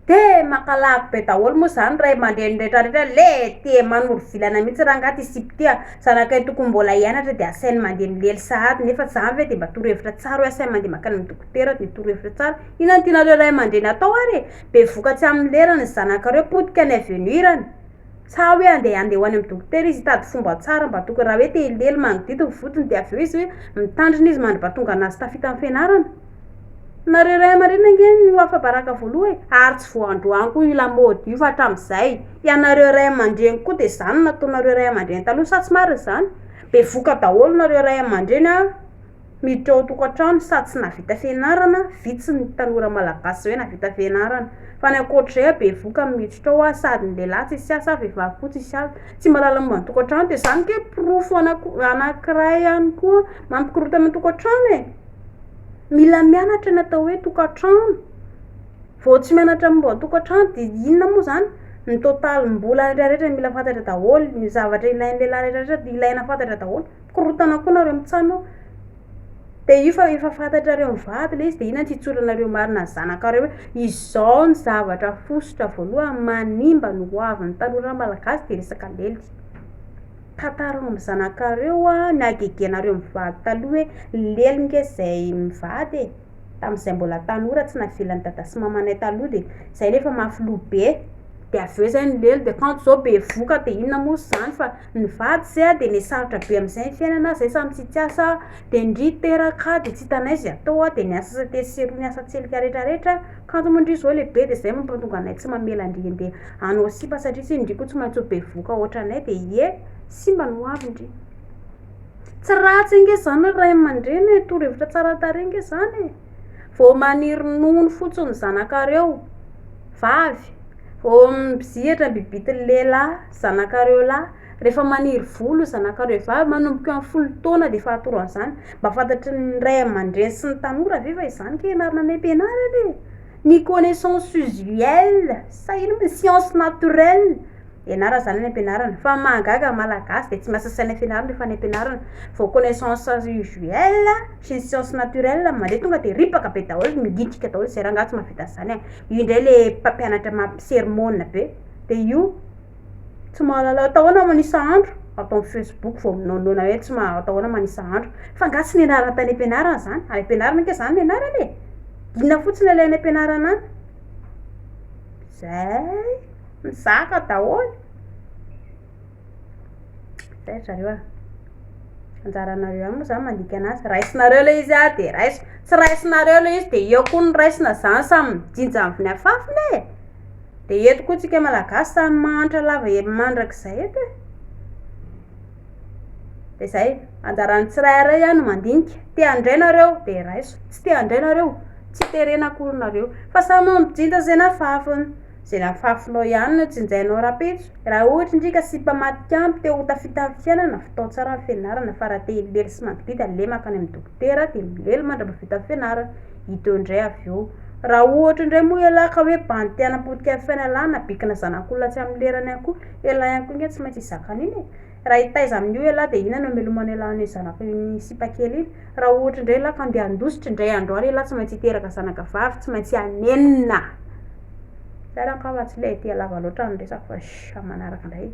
Dia maka lavy be daholo moa izany ray aman-dreny rehetra rehetra le tia manoro vilana mihitsy rangahy ty sipa ty a! Zanakay tokony mbola hianatra dia asainy mandeha milely sahady nefa za ve dia mba torohevitra tsara hoe asainy mandeha mankany amin'ny dokotera dia torohevitra tsara? Inona no tianareo ray aman-dreny atao ary e! Be vokatry amin'ny lerany ny zanakareo potika any avenir any. Sa hoe andeha handeha ho any amin'ny dokotera izy hitady fomba tsara mba tokony raha hoe te hilely mangidihidy ny vodiny dia avy eo izy hoe mitandrina izy mandry mba tonga anà sy tafita amin'ny fianarana? Nareo ray aman-dreniny ange no ho afa-baraka voaloha e! Ary tsy vao androany koa io lamaody io fa hatramin'izay! Ianareo ray aman-dreny koa dia izany no nataonareo ray aman-dreny taloha sa tsy marina izany? Bevoka daholo nareo ray aman-dreny a! Miditra ao an-tokantrano sady tsy nahavita fianarana, vitsy ny tanora malagasy izao nahavita fianarana. Fa ny ankoatra izay aho bevoka amin'ny miditra ao aho sady ny lehilahy tsisy asa ary vehivavy koa tsisy asa. Tsy mba lalan'ny momba ny tokantrano dia izany ange porofo anankiray ihany koa mampikorontana ny tokantrano e! Mila mianatra ny atao hoe tokantrano, vao tsy mianatra momba ny tokantrano dia inona moa izany? Ny totalim-bola rehetra mila fantatra daholo, ny zavatra ilain'ny lehilahy rehetra ilaina fantatra daholo. Korontana koa nareo mitsano de io fa efa fantatrareo mivady le izy de ina no hitsoranareo marina ny zanakareo hoe izao ny zavatra fosotra voalohany manimba ny ho avy ny tanora malagasy de resaka lelika tantarao amin'ny zanakareo hoa ny hagegenareo mivady taloha hoe lely nge zay mivady e tamin'izay mbola tanora tsy navelan'ny dada sy mamanay taloha de zay nefa mafy loha be de avy eo zay ny lely de kanto zao bevoka de inona moa zany fa Nivady zay aho de nesarotra be amizay ny fiainana zay samy tsy tsiasa de ndry teraka aho de tsy hitanay ze atao aho de niasa sate sy roa niasa tselika retra retra kanjo mo ndry zao lehibe de zay mampatonga anay tsy mamela ndry ande anao sipa satria tsy ndry ko tsy maintsy ho bevoka otranay de ie simba ny hoavy ndry tsy ratsy nge zany ny ray amandreny e toro hevitra tsara tarehy nge zany e vao maniry nono fotsiny ny zanakareo vavy vao mizihatra ny bibity ny lehilahy zanakareo lahy, rehefa maniry volo zanakareo vavy manomboka eo amin'ny folo taona dia efa atoro an'izany, mba fantatry ny ray aman-dreny sy ny tanora ve fa izany kay ianarana any am-pianarana e! ny connaissance usuelle sa inona moa science naturelle ianarana izany any am-pianarana fa ny mahagaga ny malagasy dia tsy miasa saina fianarana rehefa any am-pianarana vao connaissance usuelle sy ny science naturelle no mandeha tonga dia ripaka be daholo, migitika daholo izay rangahy tsy mahavita an'izany an, io indray ilay mpampianatra mampisermona be. de io tsy mahalala atao ahoana manisa andro ato amin'ny facebook vao minaonaona hoe tsy mahalala atao ahoana manisa andro fa nga tsy nianarana tany am-pianarana zany? any am-pianarana ange zany ny anarana e! inona fotsiny ilay any am-pianarana any? zay mizaka daholo Zay ry zareo a! Anjaranareo ihany moa zany mandika anazy, raisinareo ilay izy an, dia raiso, tsy raisinareo ilay izy dia eo koa ny raisina zany samy mijinja amin'ny afafiny e! Dia eto koa tsika malagasy samy mahantra lava hely mandrakizay eto e! Dia zay, anjaran'ny tsirairay ihany no mandinika, te handray nareo dia raiso, tsy te handray nareo tsy terena akory nareo fa samy mijinja izay ny afafiny. Zay nafafinao ihany no tsinjainao rapetso, raha ohatra ndry ka sipa matikambo te ho tafita am fiainana, fitao tsara ny fianarana fa raha te hilely sy mangididy aleo mankany am dokotera de milely mandra-bavita fianarana, hita eo ndray avy eo, raha ohatra ndray moa ialahy ka hoe bandy te hanampotika fiainalana bikina zanak'olona tsy am lerany akory, ialahy ankoinga tsy maintsy hizaka an'iny e! Raha hitaiza amin'io ialahy dia inona no hamelomanao ialahy amin'io zanaka io misipa kely iny? Raha ohatra indray ialahy ka handeha handositra indray andro any ialahy tsy maintsy hiteraka zanaka vavy, tsy maintsy hanenina. Zay ary angamba tsy ilay dia lava loatra ny resako fa sh amin'ny manaraka indray e.